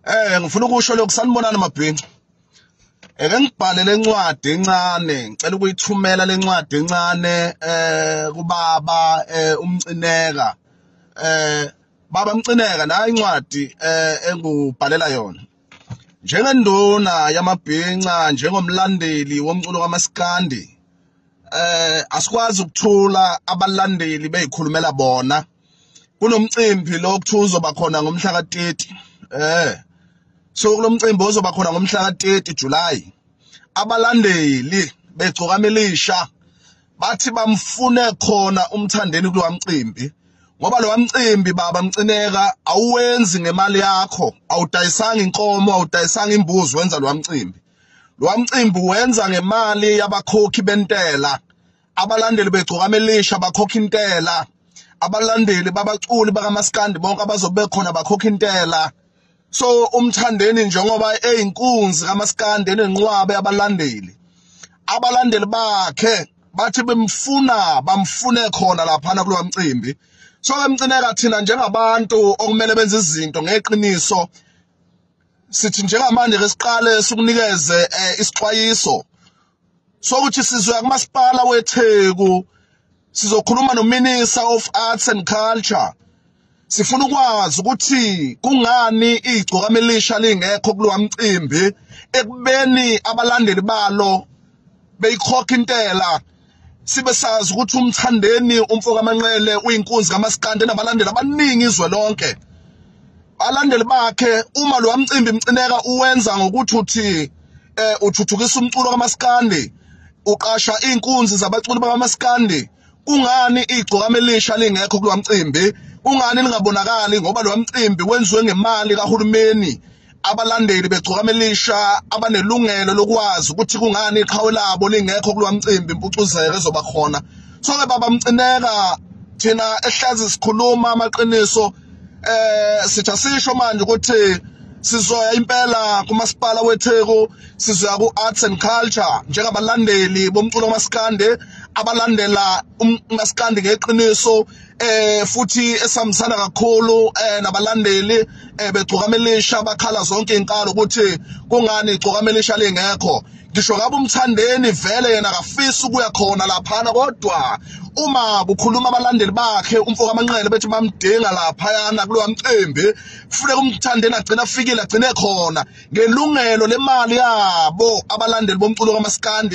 eh ngifuna ukusho lokhu sanibonani mabhinca eke ngibhale lencwadi encane ngicela ukuyithumela lencwadi encane eh kubaba eh, umcineka eh baba mcineka nayi incwadi eh engubhalela yona njengenduna yamabhinca njengomlandeli womculo kamaskandi eh asikwazi ukuthula abalandeli beyikhulumela bona kunomcimbi lo kuthiwa uzoba khona ngomhla ka-30 eh so kulomcimbi ozoba khona ngomhla ka-30 July abalandeli begcokama elisha bathi bamfune khona umthandeni kulo mcimbi ngoba lo mcimbi baba mcineka awuwenzi ngemali yakho awudayisanga inkomo awudayisanga imbuzi wenza lo mcimbi lo mcimbi wenza ngemali yabakhokhi bentela abalandeli begcokama elisha bakhokha intela abalandeli babaculi bakamaskandi bonke abazobe khona bakhokha intela so umthandeni njengoba eyinkunzi kamaskandi enenqwabe abalandeli abalandeli bakhe bathi bemfuna bamfune khona laphana kulo mcimbi so ke mcineka thina njengabantu okumele benze izinto ngeqiniso sithi njengamanje ke siqale sikunikeze eh, isixwayiso sokuthi sizoya kumasipala weTheku sizokhuluma noMinisa of Arts and Culture sifuna ukwazi ukuthi kungani igcokama elisha lingekho kulowa mcimbi ekubeni abalandeli balo beyikhokha intela sibe sazi ukuthi umthandeni umfokamanqele uyinkunzi kamasikande nabalandeli abaningi izwe lonke abalandeli bakhe uma lo mcimbi mcineka uwenza ngokuthi uthi eh uthuthukisa umculo kamaskandi uqasha inkunzi zabaculi bakamaskandi kungani igcokama elisha lingekho kulo mcimbi kungani lingabonakali ngoba lo mcimbi wenziwe ngemali kahulumeni abalandeli begcokama elisha abanelungelo lokwazi ukuthi kungani iqhawe labo lingekho kulo mcimbi impucuzeko ezoba khona so-ke baba mcineka thina ehlazi sikhuluma amaqiniso eh sitha sisho manje ukuthi sizoya impela kumasipala weTheku sizoya ku-arts and culture njengabalandeli bomculo kamasikande abalandela umasikandi ngeqiniso eh futhi esihambisana kakhulu eh nabalandeli eh begcokamelisha bakhala zonke inkalo ukuthi kungani igcokamelisha lingekho ngisho ngabe umthandeni vele yena akafisi ukuya khona laphana kodwa uma kukhuluma abalandeli bakhe umfoka amanqele bethi bamdinga laphayana kulowa mcimbi kufuneka umthandeni agcina afikile agcine khona ngelungelo lemali yabo abalandeli bomculo kamaskandi